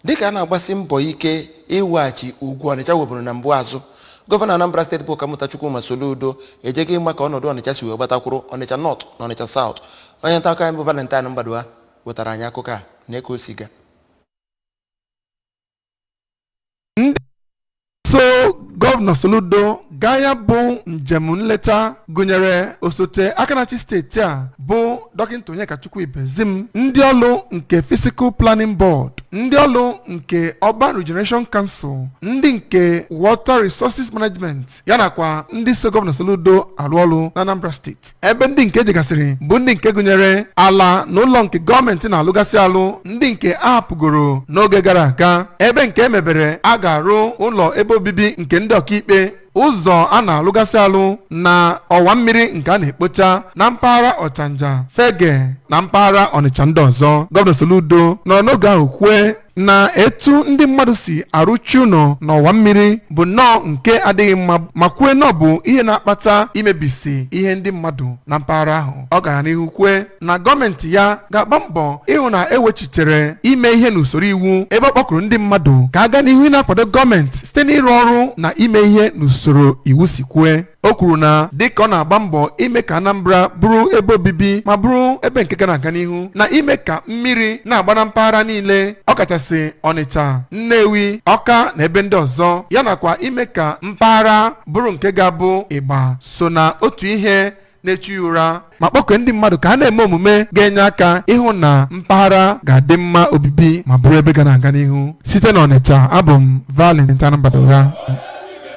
dịka a na-agbasi mbọ ike iweghachi ugwu ọnịcha nweburu na mbụ azụ gọvanọ anambra steeti bụ ọkammụta chukwuma soludo ejego ịma ka ọnọdụ ọnịcha si wee gbata kwụrụ ọnịcha nọt na ọnịcha saụt onye nta akụkọ anyị bụ valentine mbadugha wetara anyị akụkọ a nee ka o si gaa so gọvanọ soludo gaa ya bụ njem nleta gụnyere osote aka na-achị steeti a bụ dọkịta onyekachukwu ibezim ndị ọlụ nke physical planning board ndị ọlụ nke urban regeneration council ndị nke water resources management ya nakwa ndị so gọvanọ soludo arụ ọrụ na anambra steeti ebe ndị nke e jegasịrị bụ ndị nke gụnyere ala na ụlọ nke gọọmenti na-alụgasị alụ ndị nke a hapụgoro n'oge gara aga ebe nke e mebere a ga-arụ ụlọ ebe obibi nke ndị ọkaikpe ụzọ a na-alụgasị alụ na ọwa mmiri nke a na-ekpocha na mpaghara ọchanja fegge na mpaghara ọnịcha ndị ọzọ gọvanọ soludo nọrọ n'oge ahụ kwue na etu ndị mmadụ si arụchi ụlọ n'ọwa mmiri bụ nnọọ nke adịghị mma ma kwue na ọ bụ ihe na-akpata imebisi ihe ndị mmadụ na mpaghara ahụ ọ gara n'ihu kwue na gọọmenti ya ga-agba mbọ ịhụ na e wechitere ime ihe n'usoro iwu ebe ọ kpọkuru ndị mmadụ ka a gaa n'ihu ịna-akwado gọọmenti site n'ịrụ ọrụ na ime ihe n'usoro iwu si kwue o kwuru na dịka ọ na-agba mbọ ime ka Anambra bụrụ ebe obibi ma bụrụ ebe nke ga na-aga n'ihu na ime ka mmiri na-agba na mpaghara niile ọkachasị Ọnịcha Nnewi Ọka na ebe ndị ọzọ ya nakwa ime ka mpaghara bụrụ nke ga-abụ ịgba so na otu ihe na-echu ya ụra ma kpọkue ndị mmadụ ka a na-eme omume ga-enye aka ịhụ na mpaghara ga-adị mma obibi ma bụrụ ebe ga na-aga n'ihu site n'Ọnịcha abụ m Valentine Mbadugha